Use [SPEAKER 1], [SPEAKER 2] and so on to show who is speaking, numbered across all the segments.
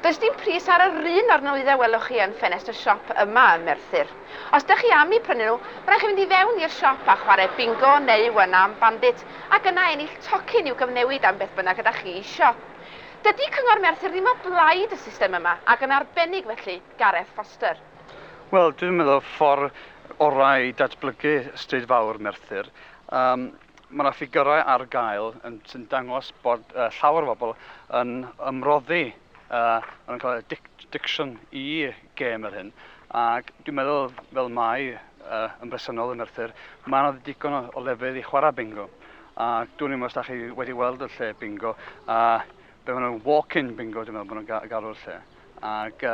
[SPEAKER 1] Does dim pris ar yr un o'r nwyddau welwch chi yn ffenest y siop yma ym Merthyr. Os dych chi am eu prynu nhw, mae'n rhaid chi fynd i fewn i'r siop a chwarae bingo neu one arm bandit ac yna ennill tocyn i'w gyfnewid am beth bynnag ydych chi eisiau. Dydy Cyngor Merthyr ddim o blaid y system yma ac yn arbennig felly Gareth Foster. Wel, dwi'n
[SPEAKER 2] meddwl ffordd orau i datblygu Stryd Fawr Merthyr. Yym. Mae yna ffigyrau ar gael sy'n dangos bod llawer o bobl yn ymroddi, maen nhw'n cael addiction i gêm yr hyn, ac dwi'n meddwl, fel mai yn bresennol yn Arthur, mae yna ddigon o lefydd i chwarae bingo, a dwi'n meddwl os da chi wedi weld y lle bingo, be maen nhw'n walk-in bingo dwi'n meddwl maen nhw'n galw'r lle, ac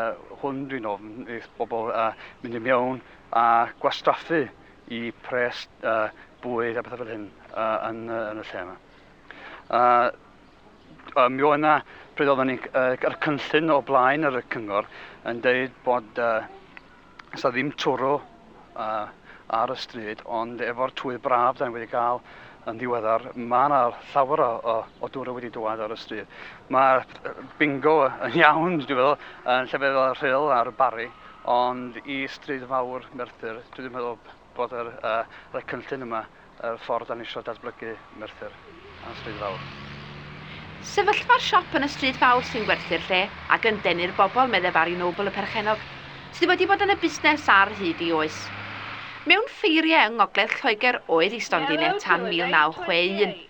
[SPEAKER 2] hwn dwi'n ofn wrth bobl mynd i mewn a gwastraffu i pres a bwyd a pethau fel hyn a, yn, yn y lle yma. A, a mi oedd yna, pryd oedden ni'n yr cynllun o blaen yr cyngor yn dweud bod uh, sa ddim twrw uh, ar y stryd, ond efo'r twydd braf da ni wedi cael yn ddiweddar, mae yna llawer o, o, o dŵr wedi dwad ar y stryd. Mae bingo yn iawn, dwi'n meddwl, yn llefydd fel y Rhyl a'r Barri, Ond i Stryd Fawr Merthyr, dwi ddim yn meddwl bod yr, uh, rhoi cynllun yma, y uh, ffordd dan eisiau datblygu Merthyr a Stryd Fawr.
[SPEAKER 1] Sefyllfa'r siop yn y Stryd Fawr sy'n gwerthu'r lle, ac yn denu'r bobl, meddai Barry Noble y perchennog, sydd wedi bod yn y busnes ar hyd i oes. Mewn ffeiriau yng ngogledd Lloegr oedd ei stondin e tan 1961.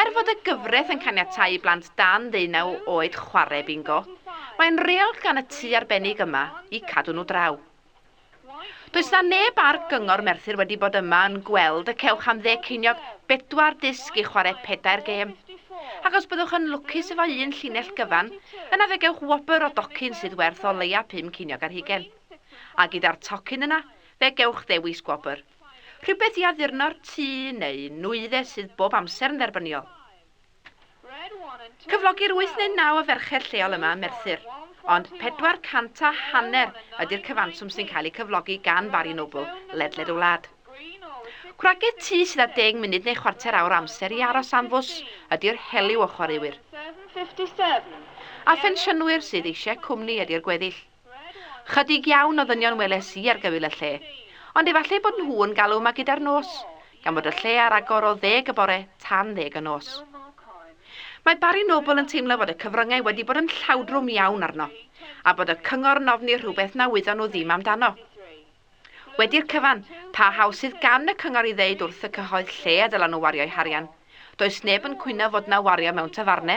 [SPEAKER 1] Er fod y gyfraith yn caniatáu i blant dan ddeunaw oed chwarae bingo, mae'n reol gan y tŷ arbennig yma i cadw nhw draw. Does 'na neb ar Gyngor Merthyr wedi bod yma yn gweld y cewch am dde ceiniog bedwar disg i chwarae pedair gêm. Ac os byddwch yn lwcus efo un llinell gyfan, yna fe gewch wobr o docyn sydd werth o leia pum ceiniog ar hugain. A gyda'r tocyn yna, fe gewch ddewis gwobr. Rhywbeth i addurno'r tŷ neu nwyddau sydd bob amser yn dderbyniol. Cyflogir wyth neu naw o ferched lleol yma ym Merthyr, ond pedwar cant a hanner ydy'r cyfanswm sy'n cael eu cyflogi gan Barry Noble ledled y wlad. Gwragedd tŷ sydd â deng munud neu chwarter awr o amser i aros am fws ydy'r heliw o chwaraewyr. A phensiynwyr sydd eisiau cwmni ydy'r gweddill. Chydig iawn o ddynion weles i ar gyfyl y lle, ond efallai bod nhw yn galw yma gyda'r nos, gan fod y lle ar agor o ddeg y bore tan ddeg y nos. Mae Barry Noble yn teimlo fod y cyfryngau wedi bod yn llawdrwm iawn arno, a bod y cyngor yn ofni rhywbeth na wyddon nhw ddim amdano. Wedi'r cyfan, pa hawl sydd gan y cyngor i ddeud wrth y cyhoedd lle y dylen nhw wario'u harian? Does neb yn cwyno fod yna wario mewn tafarne.